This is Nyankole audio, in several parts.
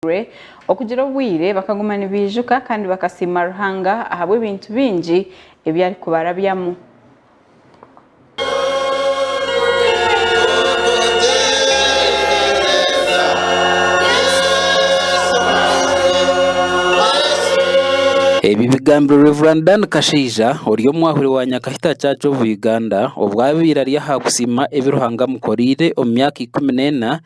babaziirwe okugira obwire bakaguma nibaijuka kandi bakasiima Ruhanga ahabw'ebintu bingi ebi arikubarabyamu. Ebi bigambirwe Rev. Dan Kashaija ori omwahuri wa Nyakahita Church of Uganda obwabaire ari aha kusiima ebi Ruhanga amukoreire omu myaka ikumi n'ena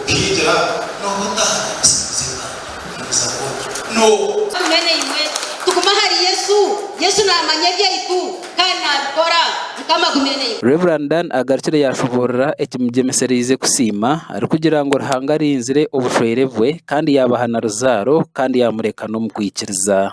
Okigira nooba otahagira businguzi Bwange, omubuza bwona noobu. Mbwenu imwe tugume ahari Yesu, Yesu naamanya ebyaitu kandi naabikora. Mukama agume naiwe. Rev. Dan agarukire yaashoboorora ekimugyemesereize kusiima arikugira ngu Ruhanga arinzire obushwere bwe kandi yaabaha na ruzaaro kandi yaamureka n'omu kwikiriza.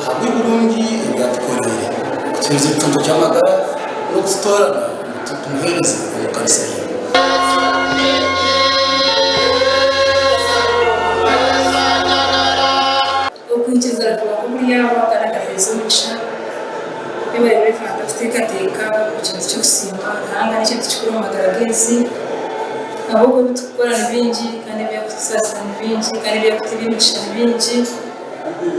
Ahabw'ebirungi ebi yaatukoreire, atuheereza ekicuncu ky'amagara n'okututoorana ngu tumuheereze omu kanisa ye. Okwikiriza kuba kuguri Yahwe kandi akaheereza omugisha ebi bariyo nibapanga kuteekateeka ni kintu ky'okusiima Ruhanga n'ekintu kikuru omu magara g'ensi ahabw'okuba ebi turikukora ni bingi kandi ebi arikutusaasira ni bingi kandi ebi arikutuha eby'emigisha ni bingi.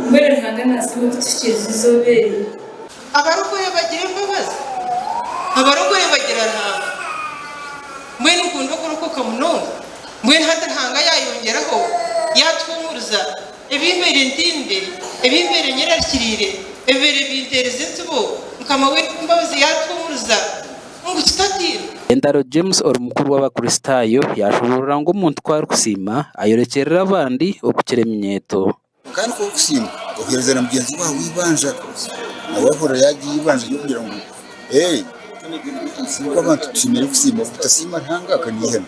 Mbwenu Ruhanga naasiima okutuhikiiriza eizooba eri. Abarokore bagira embabazi? Abarokore bagira Ruhanga? Mbwenu nkunda okurokoka munonga? Mbwenu hati Ruhanga yaayongyeraho yaatuhuumuriza? Ebimbeire ntimbire, ebimbeire nyerarikiriire, ebibeire binteerize entsibo, Mukama w'eby'embabazi yaatuhuumuriza. ngu kitatiine. Entaro James ori mukuru w'Abakristaayo yaashoboorora ngu omuntu ku arikusiima ayorekyerera abandi okukira eminyeeto. Kwonka nikwo kusiima oheereza na mugyenzi waawe eibanja. Nawe ahurira yaagira eibanja ry'okugira ngu, Ee, nk'abantu tushemereire kusiima. Obutasiima Ruhanga, ka naihemu.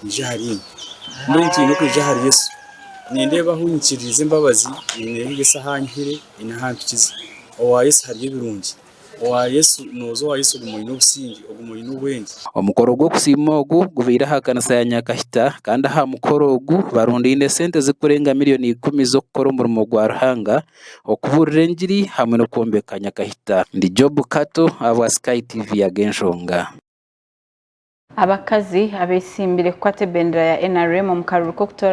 kwija ahari iwe. Mbwenu twine kwija ahari Yesu. Nindeeba ahu nyikiririize embabazi, nyine ahu Yesu anyihire, nyine ahu ampikize. Owa Yesu hariyo ebirungi. Owa Yesu, nooza owa Yesu oguma oine obusinge, oguma oine obwenge. Omukoro gw'okusiima ogu gubaire aha kanisa ya Nyakahita kandi aha mukoro ogu barundaine esente ezirikurenga miriyoni ikumi z'okukora omurimo gwa Ruhanga, okubuurira engiri hamwe n'okwombeka Nyakahita. Ndi Job Kato ahabwa Sky TV Ag'enshonga. Abakazi abetsimbire kukwata ebendera ya nrm omu karuru k'okutoorana.